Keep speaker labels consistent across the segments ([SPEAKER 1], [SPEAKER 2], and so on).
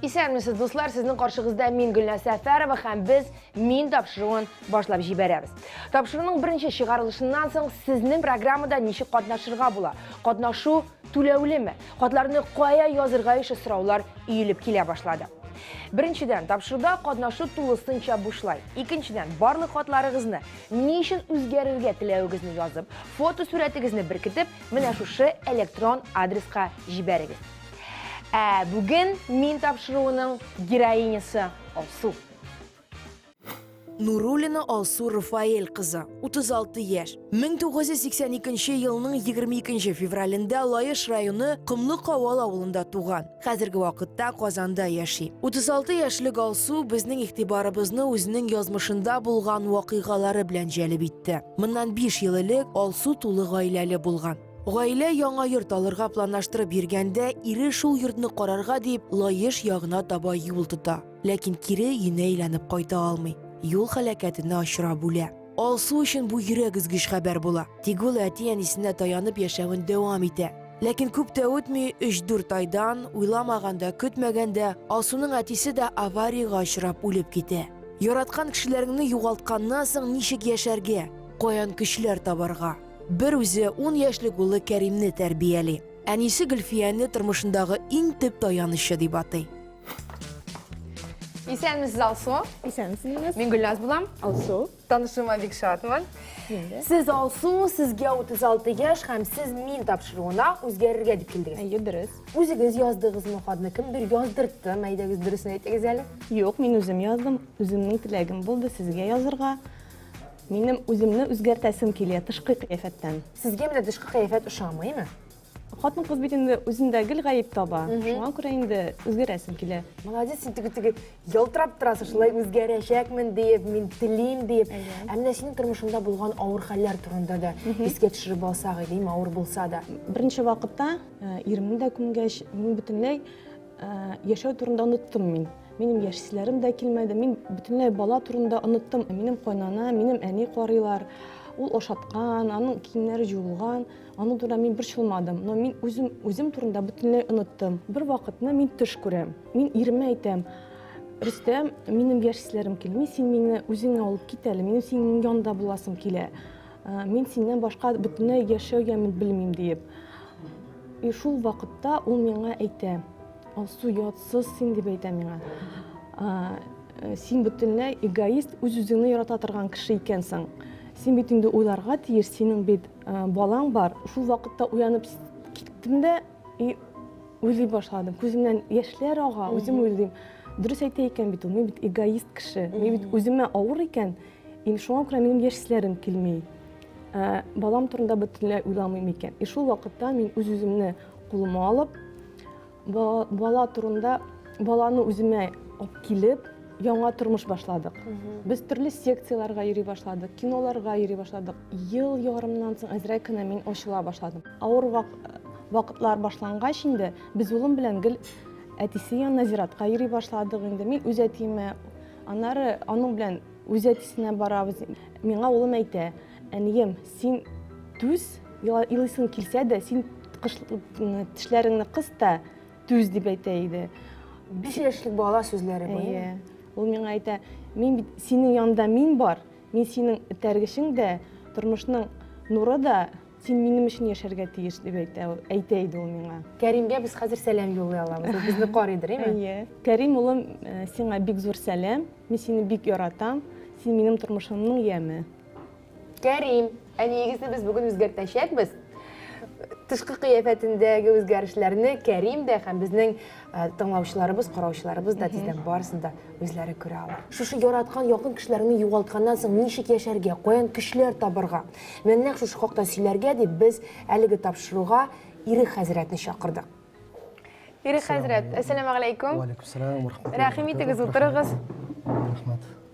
[SPEAKER 1] Исәнмесез, дуслар, сезнең каршыгызда мин Гөлнә Сәфәрова һәм без мин тапшыруын башлап җибәрәбез. Тапшыруның беренче чыгарылышыннан соң сезнең программада ничек катнашырга була? Катнашу түләүлеме? Хатларны кая язырга ише сораулар өелеп килә башлады. Беренчедән, тапшыруда катнашу тулысынча бушлай. Икенчедән, барлык хатларыгызны, ни өчен үзгәрергә теләвегезне язып, фотосурәтегезне беркетеп, менә шушы электрон адреска җибәрегез. Ә бүген мин тапшыруының героинясы Алсу.
[SPEAKER 2] Нурулина Алсу Рафаэль кызы, 36 яшь. 1982 елның 22 февралендә Лаеш районы Комлы Кавал авылында туган. Хәзерге вакытта Казанда яши. 36 яшьлек Алсу безнең игътибарыбызны үзенең язмышында булган вакыйгалары белән җәлеп итте. Моннан 5 ел элек Алсу тулы гаиләле булган. Гаилә яңа йорт алырга планлаштырып йөргәндә, ире шул йортны карарга дип Лаеш ягына таба юл тота. Ләкин кире өенә әйләнеп кайта алмый. Юл һәлакәтенә очрап үлә. Алсу өчен бу йөрәк өзгеч хәбәр була. Тик ул әти-әнисенә таянып яшәвен дәвам итә. Ләкин күп тә үтми, 3-4 айдан, уйламаганда, көтмәгәндә, Алсуның әтисе дә авариягә очрап үлеп китә. Яраткан кешеләреңне югалтканнан соң ничек яшәргә? Каян көчләр табарга? Бер үзе ун яшьлек улы Кәримне тәрбияли. Әнисе Гөлфияне тормышындагы иң төп таянычы дип атый. Исәнмесез,
[SPEAKER 1] Алсу. Исәнмесез. Мин
[SPEAKER 3] Гөлназ булам.
[SPEAKER 1] Алсу. Танышуыма
[SPEAKER 3] бик
[SPEAKER 1] шатмын. Сез Алсу, сезгә 36 яшь һәм сез мин тапшыруына үзгәрергә дип килдегез. Әйе, дөрес. Үзегез
[SPEAKER 3] яздыгызмы
[SPEAKER 1] хатны? Кемдер яздыртты? Мәйдәгез дөресен әйтегез әле. Юк, мин үзем
[SPEAKER 3] яздым. Үземнең теләгем булды сезгә язырга. Минем үземне үзгәртәсем килә тышкы кыяфәттән. Сезгә менә тышкы
[SPEAKER 1] кыяфәт ошамыймы? Хатын кыз
[SPEAKER 3] бит инде үзендә гел гаеп таба. Шуңа күрә инде үзгәрәсем килә. Молодец, син теге теге
[SPEAKER 1] ялтырап торасың, шулай үзгәрәчәкмен диеп, мин телим диеп. Ә менә синең тормышыңда булган авыр хәлләр турында да искә төшереп алсак, әйдим, авыр булса да. Беренче вакытта
[SPEAKER 3] э, иремне дә күмгәч, мин бөтенләй Яшәү турында оныттым мин. Минем яшь силәрем дә килмәде. Мин бүтәнләй бала турында оныттым. Минем кайнана, минем әни карыйлар. Ул ашаткан, аның киемнәре җуылган. Аның турында мин бер чылмадым. Но мин үзем үзем турында бүтәнләй оныттым. Бер вакытны мин төш күрәм. Мин иремә әйтәм. Рөстәм, минем яшь силәрем килми, син мине үзеңә алып кит әле. Минем синең янда буласым килә. Мин синнән башка бөтенләй яшәү ямен белмим диеп. И шул вакытта ул миңа әйтә, Алсу, ятсыз син дип әйтә миңа. Э, син бөтенләй эгоист, үз-үзеңне ярата торган кеше икәнсең. Син бит инде уйларга тиеш, синең бит э, балаң бар. Шул вакытта уянып киттем дә и уйлый башладым. Күземнән яшьләр ага, үзем уйлыйм. Дөрес әйтә икән бит ул, мин бит эгоист кеше. Мин бит үземә авыр икән. Mm -hmm Ин шуңа күрә минем яшьсләрем килми. Ә, балам турында бөтенләй уйламыйм икән. И шул вакытта мин үз-үземне кулыма алып, бала турында баланы үземә алып килеп, яңа тормыш башладык. Без төрле секцияләргә йөри башладык, киноларга йөри башладык. Ел ярымнан соң әзрәк кенә мин ачыла башладым. Авыр вак вакытлар башлангач инде без улым белән гел әтисе янына зиратка йөри башладык инде. Мин үз әтиемә Аннары аның белән үз әтисенә барабыз. Миңа улым әйтә, әнием, син түз, елыйсың килсә дә, син тешләреңне кыс та түз дип әйтә иде. Биш
[SPEAKER 1] яшьлек бала сүзләре бу. Иә. Ул миңа әйтә,
[SPEAKER 3] мин бит синең янда мин бар, мин синең этәргечең дә, тормышның нуры да, Син минем өчен яшәргә тиеш, дип әйтә, әйтә иде ул миңа. Кәримгә без хәзер
[SPEAKER 1] сәлам юллый алабыз. Ул безне карыйдыр, әйме? Әйе. Кәрим улым,
[SPEAKER 3] э, сиңа бик зур сәлам. Мин сине бик яратам. Син минем тормышымның яме. Кәрим,
[SPEAKER 1] әниегезне без бүген үзгәртәчәкбез. Тышкы кыяфәтендәге үзгәрешләрне Кәрим дә һәм безнең Ә, тыңлаучыларыбыз, караучыларыбыз да тиздән барысын да үзләре күрә ала. Шушы яраткан якын кешеләреңне югалтканнан соң ничек яшәргә, каян көчләр табырга? Менә нәкъ шушы хакта сөйләргә дип без әлеге тапшыруга Ирек хәзрәтне чакырдык. Ирек хәзрәт, әссәламу алейкум. Алейкум сәлам, рәхмәт.
[SPEAKER 4] Рәхим итегез, утырыгыз.
[SPEAKER 1] Рәхмәт.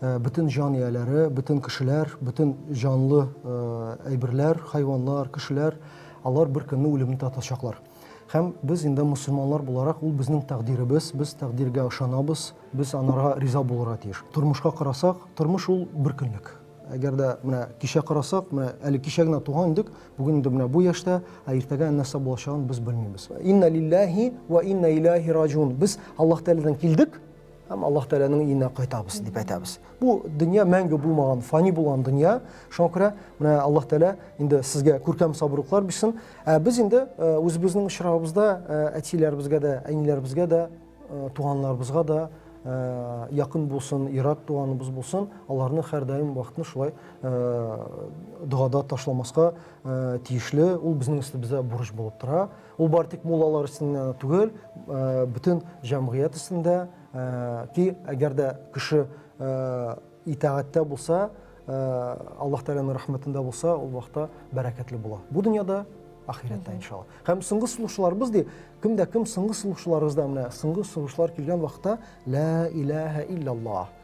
[SPEAKER 4] Бөтен җан ияләре, бөтен кешеләр, бөтен җанлы әйберләр, хайваннар, кешеләр, алар бер көнне үлемне татачаклар. Һәм без инде мусульманлар буларак, ул безнең тәкъдиребез, без тәкъдиргә ышанабыз, без анарга риза булырга тиеш. Тормышка карасак, тормыш ул бер көнлек. Әгәр дә менә кичә карасак, менә әле кичә генә туган идек, бүген инде менә бу яшьтә, ә иртәгә нәрсә булачагын без белмибез. Инна лилләһи вә инна иләһи раҗиун. Без Аллаһ Тәгаләдән килдек, Һәм Аллаһ Тәгаләнең иенә кайтабыз дип әйтәбез. Бу дөнья мәңге булмаган, фани булган дөнья. Шуңа күрә менә Аллаһ Тәгалә инде сезгә күркәм сабырлыклар бирсен. Ә без инде э, үзебезнең очрагыбызда э, әтиләребезгә дә, әниләребезгә дә, э, туганнарыбызга да якын булсын, ират туганыбыз булсын, аларны һәрдаим вакытны шулай догада ташламаска тиешле. Ул безнең өстебездә бурыч булып тора. Ул бары тик муллалар өчен генә түгел, бөтен җәмгыять өчен дә. Ки әгәр дә кеше итагатьтә булса, Аллаһ Тәгаләнең рәхмәтендә булса, ул вакытта бәрәкәтле була. Бу дөньяда, ахирәттә иншалла. Һәм соңгы сулышларыбыз ди, кем дә кем соңгы сулышларыбызда менә соңгы сулышлар килгән вакытта ла илаһа илляллаһ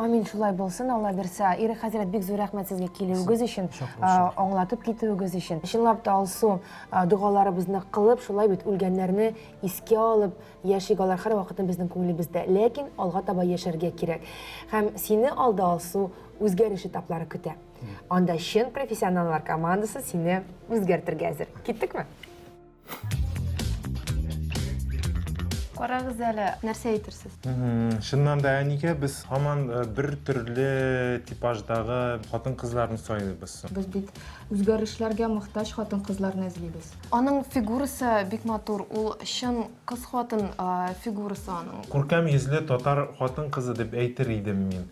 [SPEAKER 4] Амин
[SPEAKER 1] шулай булсын, Алла бирсә. Ире хәзрәт бик зур рәхмәт сезгә килүегез өчен, аңлатып китүегез өчен. Чынлап та Алсу догаларыбызны кылып, шулай бит үлгәннәрне искә алып яшик, алар һәрвакытны безнең күңелебездә. Ләкин алга таба яшәргә кирәк. Һәм сине алда Алсу үзгәреш этаплары көтә. Анда чын профессионаллар командасы сине үзгәртергә әзер. Киттекме? Карагыз әле, нәрсә әйтерсез? Шыннан да
[SPEAKER 5] әнигә без һаман э, бер төрле типаждагы хатын-кызларны сайлыйбыз. Без бит
[SPEAKER 6] үзгәрешләргә мохтаҗ хатын-кызларны эзлибез. Аның фигурасы
[SPEAKER 1] бик матур, ул чын кыз хатын э, фигурасы аның. Күркәм йөзле татар
[SPEAKER 5] хатын-кызы дип әйтер идем мин.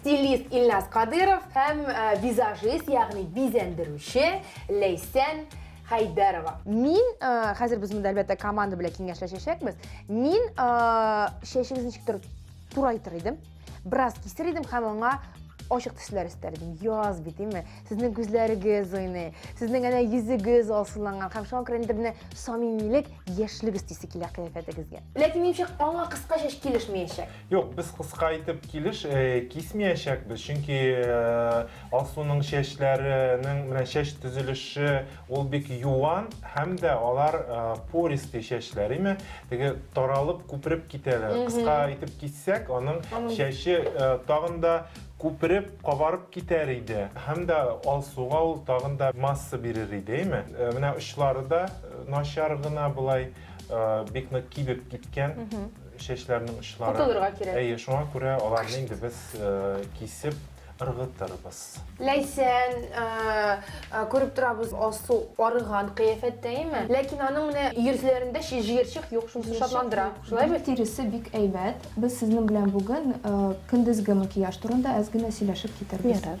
[SPEAKER 1] стилист Ильназ Кадыров һәм э, визажист, ягъни бизәндерүче Ләйсән Хәйдәрова. Мин э, хәзер без монда әлбәттә команда белән киңәшләшәчәкбез. Мин э, чәчегезне ничектер турайтыр идем, бераз кисер идем һәм аңа ачык төсләр өстәр идем. Яз бит, димме? Сезнең күзләрегез уйный, сезнең әнә йөзегез алсыланган һәм шуңа күрә инде менә самимилек, яшьлек өстисе килә кыяфәтегезгә. Ләкин минемчә аңа кыска чәч килешмәячәк. Юк, без кыска
[SPEAKER 5] итеп килеш э, кисмиячәкбез, чөнки э, Алсуның чәчләренең менә чәч төзелеше ул бик юан һәм дә алар э, пористый чәчләр, име? Теге таралып, күпереп китәләр. Кыска итеп киссәк, аның чәче э, тагын да күпереп, кабарып китәр иде. Һәм дә Алсуга ул тагын да масса бирер иде, име? Э, Менә очлары да э, начар гына болай э, бик нык кибеп киткән. чәчләрнең очлары. Котылырга кирәк. Әйе, шуңа
[SPEAKER 1] күрә аларны
[SPEAKER 5] инде без кисеп ыргытырбыз. Ләйсән,
[SPEAKER 1] күреп торабыз, алсу арыган кыяфәттә, әйеме? Ләкин аның менә йөзләрендә җыерчык юк, шунысы шатландыра. Шулай бит? Гел тиресе бик әйбәт.
[SPEAKER 6] Без сезнең белән бүген көндезге макияж турында әз генә сөйләшеп китәрбез. Ярар.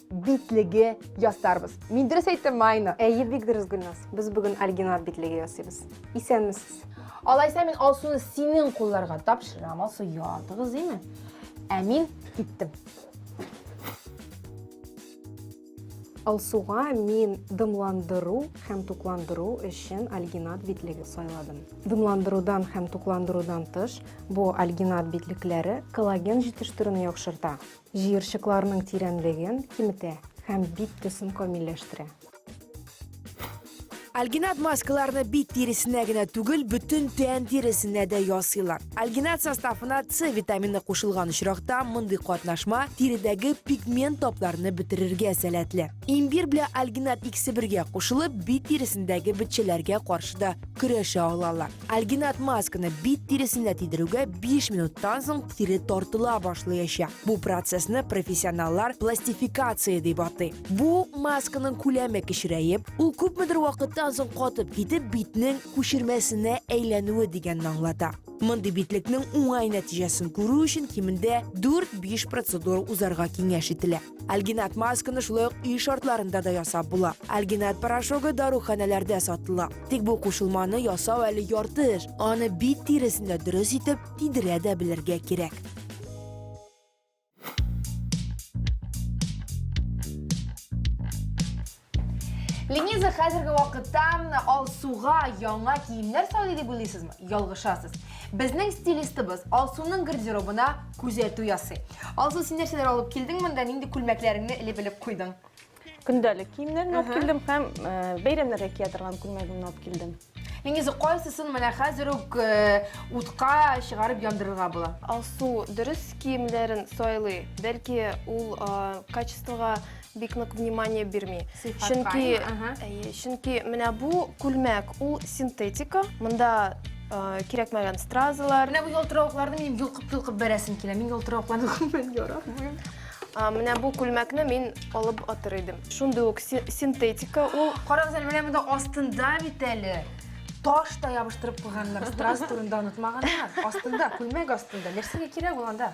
[SPEAKER 1] битлеге ясарбыз. Мин дөрес әйттем, Майна? Әйе, бик дөрес, Гөлназ.
[SPEAKER 7] Без бүген альгинат битлеге ясыйбыз. Исәнмесез. Алайса мин
[SPEAKER 1] Алсуны синең кулларга тапшырам. Алсу, ятыгыз, име? Ә мин киттем.
[SPEAKER 7] Алсуга мин дымландыру һәм тукландыру өчен альгинат битлеге сайладым. Дымландырудан һәм тукландырудан тыш, бу альгинат битлекләре коллаген җитештерүне яхшырта. Җыерчыкларның тирәнлеген киметә һәм бит төсен камилләштерә.
[SPEAKER 2] Альгинат маскаларны бит тиресенә генә түгел, бөтен тән тиресенә дә ясыйлар. Альгинат составына С витамины кушылган очракта, мондый катнашма тиредәге пигмент тапларны бетерергә сәләтле. Имбир белән альгинат икесе бергә кушылып, бит тиресендәге бетчәләргә каршы да көрәшә алалар. Альгинат масканы бит тиресенә тидерүгә 5 минуттан соң тире тартыла башлаячак. Бу процессны профессионаллар пластификация дип атый. Бу масканың күләме кечерәеп, ул күпмедер вакыттан соң катып китеп, битнең күчермәсенә әйләнүе дигәнне аңлата. Мондый битлекнең уңай нәтиҗәсен күрү өчен кимендә 4-5 процедура узарга киңәш ителә. Альгинат масканы шулай ук өй шартларында да ясап була. Альгинат порошогы даруханәләрдә сатыла. Тик бу кушылманы ясау әле ярты эш. Аны бит тиресендә дөрес итеп тидерә дә белергә кирәк.
[SPEAKER 1] Лениза хәзерге вакытта Алсуга яңа киемнәр сайлый дип уйлыйсызмы? Ялгышасыз. Безнең стилистыбыз Алсуның гардеробына күзәтү ясый. Алсу, син нәрсәләр алып килдең монда? Нинди күлмәкләреңне элеп-элеп куйдың? Көндәлек
[SPEAKER 3] киемнәрне алып килдем һәм э, бәйрәмнәргә кия торган күлмәгемне алып килдем. Нигезе кайсысын
[SPEAKER 1] менә хәзер үк э, утка чыгарып яндырырга була? Алсу дөрес
[SPEAKER 6] киемнәрен сайлый. Бәлки ул э, качествога бик нык внимание бирми. Сыйфатка, Чөнки әйе, ага. әйе, чөнки менә бу күлмәк, ул синтетика. Монда э, кирәкмәгән стразалар, Менә бу ялтыравыкларны
[SPEAKER 1] мин йолкып-йолкып бәрәсем килә. Мин ялтыравыкларны күрмәм яратмыйм. Менә бу
[SPEAKER 6] күлмәкне мин алып атыр идем. Шундый ук синтетика ул. Карагыз әле, менә монда
[SPEAKER 1] астында бит әле таш та ябыштырып куйганнар. Страз турында онытмаганнар. Астында, күлмәк астында. Нәрсәгә кирәк ул анда?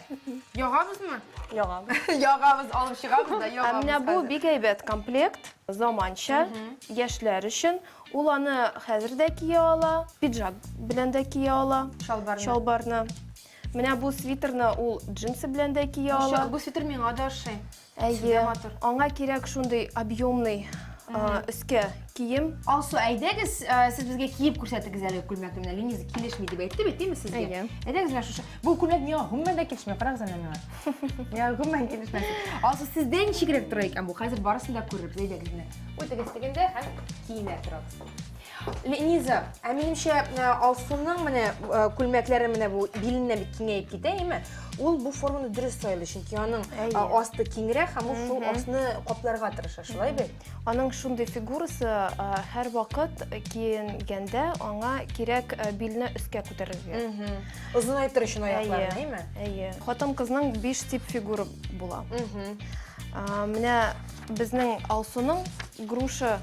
[SPEAKER 1] Ягабызмы? Ягабыз.
[SPEAKER 3] Ягабыз, алып
[SPEAKER 1] чыгабыз да ягабыз. Менә бу бик әйбәт
[SPEAKER 6] комплект, заманча, яшьләр өчен. Ул аны хәзер дә кия ала, пиджак белән дә кия ала. Чалбарны. Чалбарны. Менә бу свитерны ул джинсы белән дә кия ала. Бу свитер миңа да ошый.
[SPEAKER 1] Әйе.
[SPEAKER 6] Аңа кирәк шундый объемный өскә кием. Алсу, әйдәгез,
[SPEAKER 1] сез безгә киеп күрсәтегез әле күлмәкне. Менә Лениза килешми дип әйтте бит, диме сезгә? Әйе. Әйдәгез менә шушы. Бу күлмәк миңа гомумән дә килешми. Карагыз әнә миңа. Миңа гомумән килешми. Алсу, сездә ничегрәк тора икән бу? Хәзер барысын да күрербез. Әйдәгез менә. Үтегез дигәндә һәм киенә торабыз. Лениза, ә минемчә э, Алсуның менә э, күлмәкләре менә бу биленнән бик киңәеп китә, әйме? Ул бу форманы дөрес сайлый, чөнки аның э, асты киңрәк һәм ул шул асны капларга тырыша, шулай бит? Аның шундый
[SPEAKER 6] фигурасы һәр вакыт киенгәндә аңа кирәк билне өскә күтәрергә. Озынайтыр
[SPEAKER 1] өчен аякларын, әйме? Әйе. Хатын-кызның
[SPEAKER 6] биш тип фигура була. Менә безнең Алсуның груша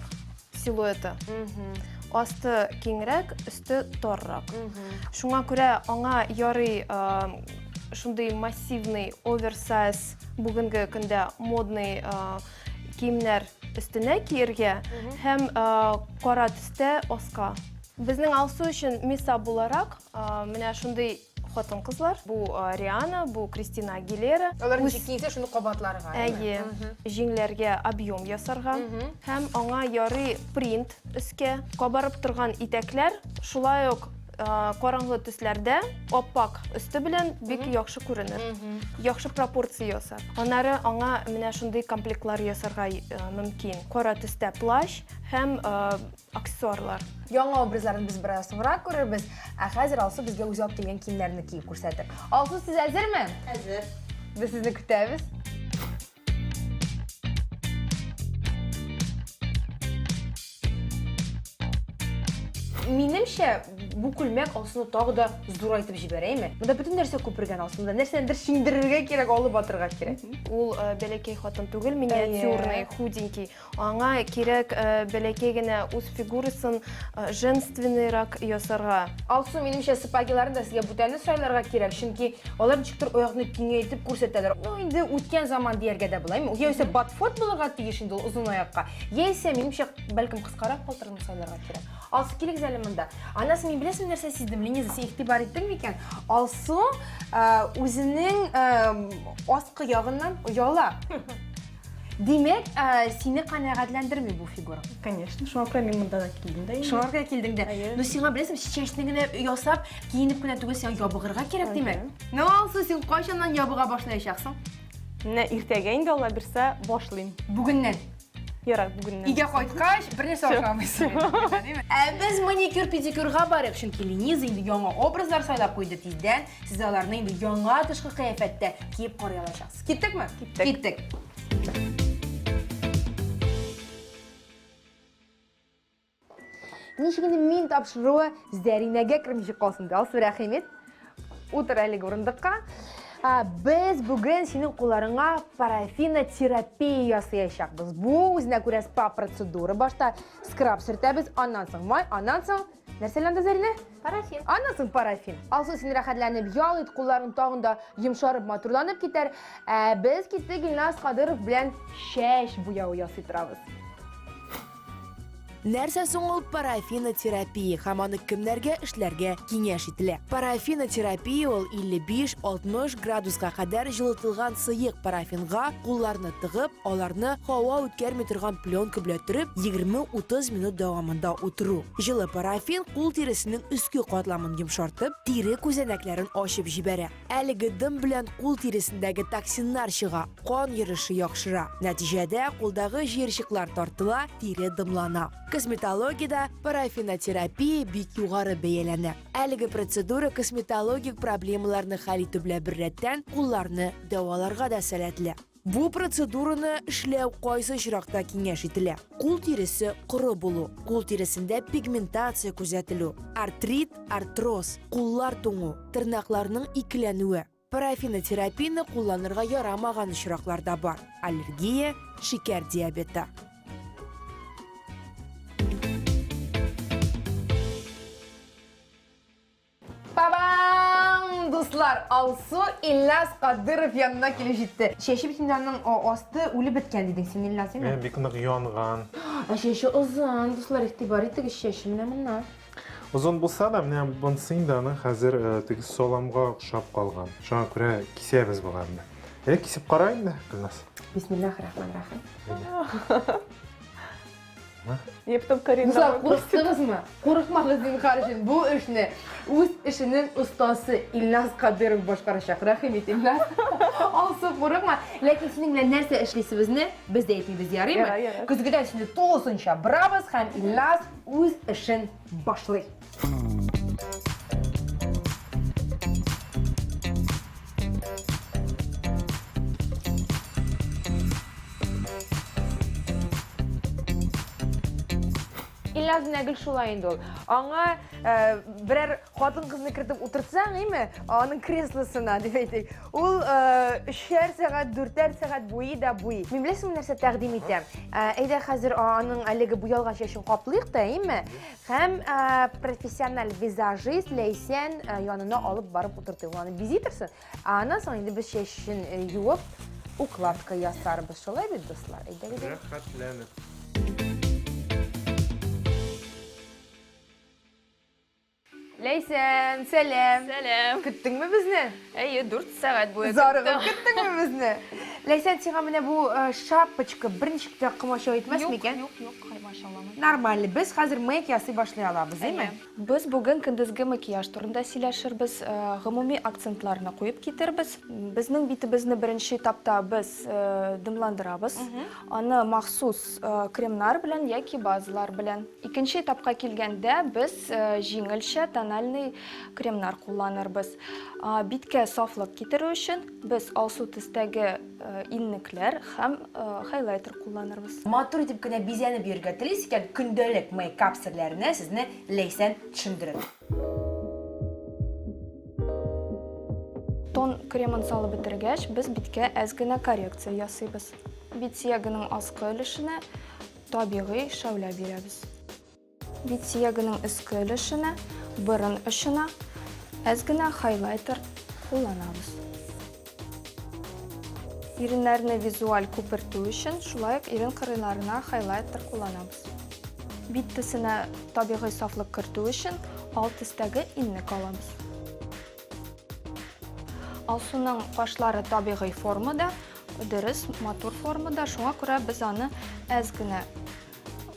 [SPEAKER 6] силуэты. Асты киңрәк, өсте торрак. Шуңа күрә аңа ярый шундый массивный оверсайз бүгенге көндә модный киемнәр өстенә киергә һәм кара төстә аска. Безнең Алсу өчен миса буларак менә шундый Хатын кызлар, бу Риана, бу Кристина Агилера. Алар ничек киенсә, шуны
[SPEAKER 1] кабатларга. Әйе.
[SPEAKER 6] Җиңләргә объем ясарга һәм аңа ярый принт өскә. Кабарып торган итәкләр шулай ук караңгы төсләрдә аппак өсте белән бик яхшы күренер. Яхшы пропорция ясар. Аннары аңа менә шундый комплектлар ясарга мөмкин. Кара төстә плащ һәм Аксессуарлар. Яңа образларын
[SPEAKER 1] без бераз соңрак күрербез, ә хәзер Алсу безгә үзе алып килгән киемнәрне киеп күрсәтер. Алсу, сез әзерме? Әзер. Без сезне көтәбез. Минемчә, бу күлмәк Алсуны тагы да зурайтып җибәрәме? Монда бөтен нәрсә күпергән Алсуны, нәрсәдер шиңдерергә кирәк, алып атырга кирәк. Ул э, бәләкәй
[SPEAKER 6] хатын түгел, миниатюрный, худенький. Аңа кирәк бәләкәй генә үз фигурасын женственныйрак ясарга. Алсу, минемчә,
[SPEAKER 1] сапагиларны да сезгә бүтәнне сайларга кирәк, чөнки алар ничектер аякны киңәйтеп күрсәтәләр. Ну, инде үткән заман дияргә дә була. Яисә ботфорд булырга тиеш инде ул озын аякка. Яисә, минемчә, бәлкем кыскарак палтырны сайларга кирәк. Алсу, килегез әле монда. Анасы, мин беләсең нәрсә сиздем? Линиза, син игътибар иттең микән? Алсу үзенең аскы ягыннан ояла. Димәк, ә, сине канәгатьләндерми бу фигура. Конечно, шуңа күрә мин
[SPEAKER 3] монда да килдем дә. инде. Шуларга килдең дә. Әйе.
[SPEAKER 1] Ну сиңа беләсең, чәчне генә ясап, киенеп кенә түгел, сиңа ябыгырга кирәк, димәк. Ну, Алсу, син кайчаннан ябыга башлаячаксың? Менә
[SPEAKER 3] иртәгә инде Алла бирсә башлыйм. Бүгеннән.
[SPEAKER 1] Ярар,
[SPEAKER 3] бүгеннән. Өйгә кайткач,
[SPEAKER 1] бернәрсә Всё, ашамыйсың. всё. инде, димәк. Ә без маникюр-педикюрга барыйк, чөнки Лениза инде яңа образлар сайлап куйды тиздән. Сез аларны инде яңа тышкы кыяфәттә киеп карый алачаксыз. Киттекме? Киттек. Киттек. Ничек инде мин тапшыруы Зәринәгә кермичә калсын. Алсу Рәхимет. Утыр әлеге урындыкка. Без бүген синең кулларыңа парафинотерапия ясаячакбыз. Бу үзенә күрә спа процедура. Башта скраб сөртәбез, аннан соң май, аннан соң Нәрсә ләндә Зәринә? Парафин. Аннан
[SPEAKER 6] парафин.
[SPEAKER 1] Алсын син рәхәтләнеп ял ит, кулларың тагын да йомшарып, матурланып китәр. Ә без киттек Илназ Кадыров белән чәч буяу ясый торабыз.
[SPEAKER 2] Нәрсә соң ул парафинотерапия һәм аны кемнәргә эшләргә киңәш ителә? Парафинотерапия ул 55-60 градуска кадәр җылытылган сыек парафинга кулларны тыгып, аларны һава үткәрми торган пленка белән төреп, 20-30 минут дәвамында утыру. Җылы парафин кул тиресенең өске катламын йомшартып, тире күзәнәкләрен ачып җибәрә. Әлеге дым белән кул тиресендәге токсиннар чыга, кан йөреше яхшыра. Нәтиҗәдә кулдагы җыерчыклар тартыла, тире дымлана. Косметологиядә парафинотерапия бик югары бәяләнә. Әлеге процедура косметологик проблемаларны хәл итү белән беррәттән кулларны дәваларга да сәләтле. Бу процедураны эшләү кайсы очракта киңәш ителә? Кул тиресе коры булу, кул тиресендә пигментация күзәтелү, артрит, артроз, куллар туңу, тырнакларның икеләнүе. Парафинотерапияне кулланырга ярамаган очраклар да бар. Аллергия, шикәр диабеты.
[SPEAKER 1] Бабам! Дуслар, Алсу Ильяс Кадыров янына килеп җитте. Чәче бит инде аның а- асты үлеп беткән дидең син, Ильяс, Мин әйме? бик нык янган.
[SPEAKER 5] Ә чәче
[SPEAKER 1] озын, дуслар, игътибар итегез, чәче менә моннан. Озын булса
[SPEAKER 5] да, менә монсы инде аның хәзер э, теге саламга охшап калган. Шуңа күрә кисәбез боларны. Әйдә кисеп кара инде, Гөлназ. Бисмиллахи рахмани рахим.
[SPEAKER 1] Әйдә.
[SPEAKER 3] Ептым Карина. Бузар, курыктыңызмы?
[SPEAKER 1] Курыкмагыз, зинхар өчен. Бу эшне үз эшенең остасы Илназ Кадыров башкарачак. Рәхим ит, Илназ. Алсу, курыкма. Ләкин синең белән нәрсә эшлисебезне без дә әйтмибез, ярыймы? Ярар, ярар. Көзгедән сине
[SPEAKER 3] тулысынча
[SPEAKER 1] борабыз һәм Илназ үз эшен башлый. Ильяз Нәгел шулай инде ул. Аңа э, берәр хатын-кызны кертеп утыртсаң, име, аның креслосына дип әйтик. Ул э, өчәр сәгать, дүртәр сәгать буе да буй. Мин беләсеңме нәрсә тәкъдим итәм? Э, әйдә хәзер аның әлеге буялган чәчен каплыйк та, име? Һәм профессиональ визажист Ләйсән янына алып барып утыртыйм. Аны бизи торсын. Аннан соң инде без чәчен юып, укладка ясарбыз. Шулай бит, дуслар? Әйдәгез. Рәхәтләнеп. Ләйсән, сәлам! Сәлам! Көттеңме
[SPEAKER 6] безне?
[SPEAKER 1] Әйе, дүрт
[SPEAKER 6] сәгать буе көттем. Зарыгып көттеңме
[SPEAKER 1] безне? Ләйсән, сиңа менә бу шапочка берничек тә комачау итмәс микән? Юк, юк, юк, комачауламый.
[SPEAKER 6] Нормально, без хәзер
[SPEAKER 1] мейк ясый башлый алабыз, име? Әйе. Без бүген
[SPEAKER 6] көндезге макияж турында сөйләшербез, гомуми акцентларны куеп китербез. Безнең битебезне беренче этапта без дымландырабыз. Аны махсус Кремнар белән яки базалар белән. Икенче этапка килгәндә, без җиңелчә тональный кремнар кулланырбыз. Биткә сафлык китерү өчен без алсу төстәге иннекләр һәм хайлайтер кулланырбыз. Матур итеп кенә
[SPEAKER 1] бизәнеп йөрергә телисез икән, көндәлек мейкап серләренә сезне Ләйсән төшендерер.
[SPEAKER 6] Тон кремын салып бетергәч, без биткә әз генә коррекция ясыйбыз. Бит сөягенең аскы өлешенә табигый шәүлә бирәбез. Бит сөягенең өске өлешенә, борын очына әз генә хайлайтер кулланабыз. Иреннәрне визуаль күпертү өчен шулай ук ирен кырыйларына хайлайтер кулланабыз. Бит төсенә табигый сафлык кертү өчен ал төстәге инне калабыз. Алсуның кашлары табигый формада, дөрес, матур формада, шуңа күрә без аны әз генә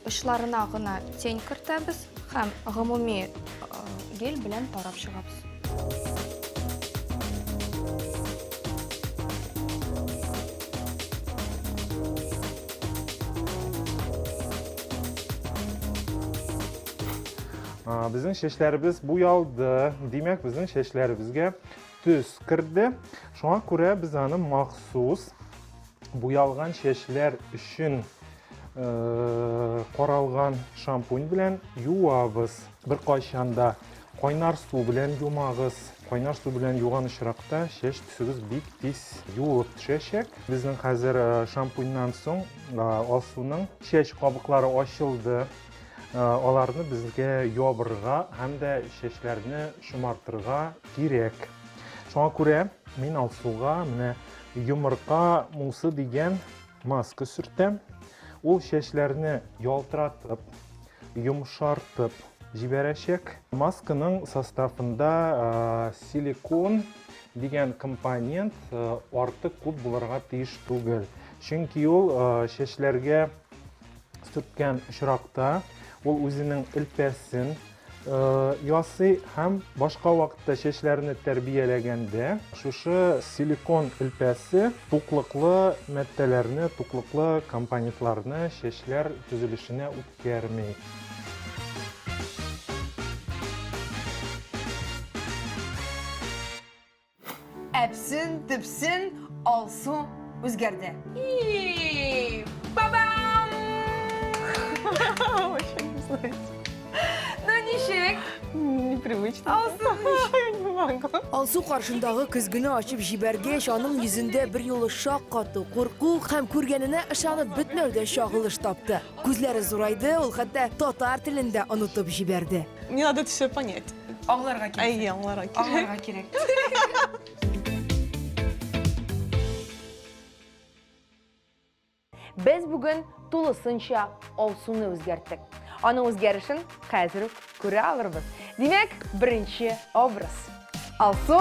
[SPEAKER 6] Очларына гына тень кертәбез һәм гомуми гель белән тарап чыгабыз.
[SPEAKER 5] Безнең чәчләребез буялды. Димәк, безнең чәчләребезгә төс керде. Шуңа күрә без аны махсус Буялган чәчләр өчен каралган шампунь белән юабыз. Бер кайчанда кайнар су белән юмагыз. Кайнар су белән юган очракта чәч төсегез бик тиз юылып төшәчәк. Безнең хәзер шампуньнан соң Алсуның чәч кабыклары ачылды. Аларны безгә ябырга һәм дә чәчләрне шомартырга кирәк. Шуңа күрә мин Алсуга менә Йомырка мусы дигән маска сөртәм. Ул чәчләрне ялтыратып, йомшартып җибәрәчәк. Масканың составында силикон дигән компонент артык күп булырга тиеш түгел. Чөнки ул чәчләргә сүккән очракта ул үзенең элпәсен ясый һәм башка вакытта чәчләрне тәрбияләгәндә шушы силикон элпәсе туклыклы мәттәләрне, туклыклы компонентларны чәчләр төзелешенә үткәрми.
[SPEAKER 2] Әпсен, төпсен, алсу үзгәрде. И,
[SPEAKER 1] бабам! Очень злость. Ну ничек? Непривычно.
[SPEAKER 3] Алсу, я не могу. Алсу каршындагы
[SPEAKER 2] көзгене ачып җибәргәч, аның йөзендә бер юлы шаккату, курку һәм күргәненә ышанып бетмәүдән чагылыш тапты. Күзләре зурайды, ул хәтта татар телен дә онытып җибәрде. Мне надо это все
[SPEAKER 3] понять. Аңларга кирәк. Әйе, аңларга
[SPEAKER 1] кирәк. Аңларга
[SPEAKER 3] кирәк.
[SPEAKER 1] Без бүген тулысынча алсуны үзгәрттек. Аның үзгәрешен хәзер үк күрә алырбыз. Димәк, беренче образ. Алсу!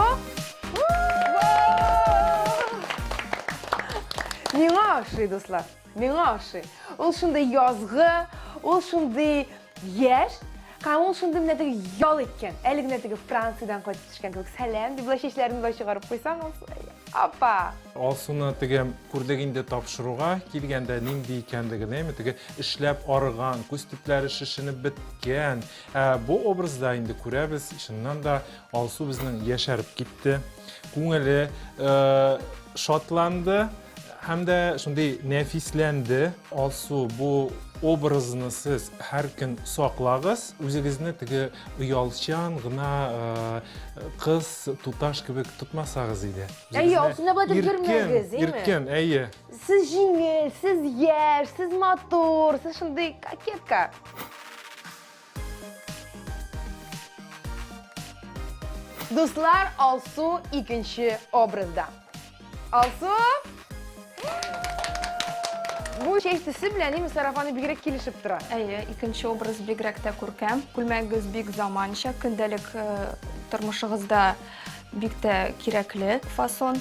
[SPEAKER 1] Миңа ошый, дуслар. Миңа ошый. Ул шундый язгы, ул шундый яшь, һәм ул шундый менә теге ял иткән. Әле генә теге Франциядән кайтып төшкән кебек. Сәлам, дип болай чәчләрен болай чыгарып куйсаң, апа. Алсуны
[SPEAKER 5] теге күрдек инде тапшыруга килгәндә нинди икәнлеген, әйме, теге эшләп арыган, күз төпләре шешенеп беткән. Ә бу образда инде күрәбез, чыннан да Алсу безнең яшәреп китте. Күңеле э, шатланды, Һәм дә шундый нәфисләнде. Алсу, бу образны сез һәр көн саклагыз. Үзегезне теге оялчан гына кыз, туташ кебек тотмасагыз иде. Әйе, Алсу да бәдер
[SPEAKER 1] йөрмәгез, әйе. Иркен, әйе.
[SPEAKER 5] Сез җиңел,
[SPEAKER 1] сез яшь, сез матур, сез шундый кокетка. Дуслар, Алсу икенче образда. Алсу! Бу чәч төсе белән ними сарафаны бигрәк килешеп тора. Әйе, икенче образ
[SPEAKER 6] бигрәк тә күркәм. Күлмәгегез бик заманча, көндәлек э, тормышыгызда бик тә кирәкле фасон.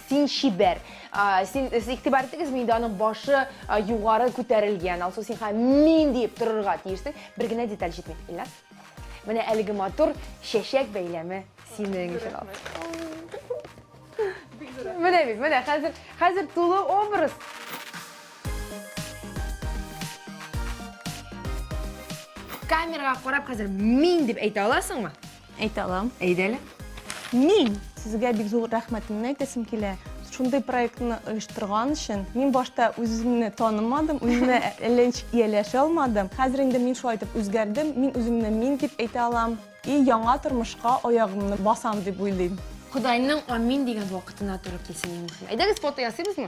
[SPEAKER 1] Син чибәр. Син игътибар итегез, миндә аның башы югары күтәрелгән. Алсу син һәм мин диеп торырга тиешсең. Бер генә деталь җитми. Ильназ. Менә әлеге матур чәчәк бәйләме синең өчен ал. Менә бит, менә хәзер, хәзер тулы образ. Камерага карап хәзер мин дип әйтә аласыңмы? Әйтә алам.
[SPEAKER 3] Әйдә әле.
[SPEAKER 1] Мин
[SPEAKER 3] сезгә бик зур рәхмәтемне әйтәсем килә. Шундый проектны оештырган өчен. Мин башта үземне танымадым, үземә әллә ничек ияләшә алмадым. Хәзер инде мин шулай итеп үзгәрдем. Мин үземне мин дип әйтә алам. И яңа тормышка аягымны басам дип уйлыйм. Кодайның амин
[SPEAKER 1] дигән вакытына туры килсен иң мөһиме. Әйдәгез фото ясыйбызмы?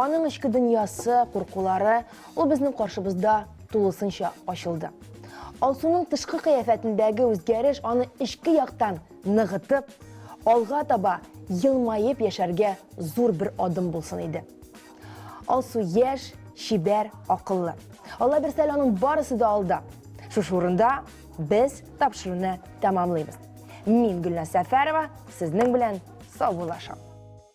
[SPEAKER 1] Аның эчке дөньясы, куркулары, ул безнең каршыбызда тулысынча ачылды. Алсуның тышкы кыяфәтендәге үзгәреш аны эчке яктан ныгытып, алга таба елмаеп яшәргә зур бер адым булсын иде. Алсу яшь, чибәр, акыллы. Алла бирсә, аның барысы да алда. Шушы урында без тапшыруны тәмамлыйбыз. Мин Гөлназ Сәфәрова, сезнең белән саубуллашам.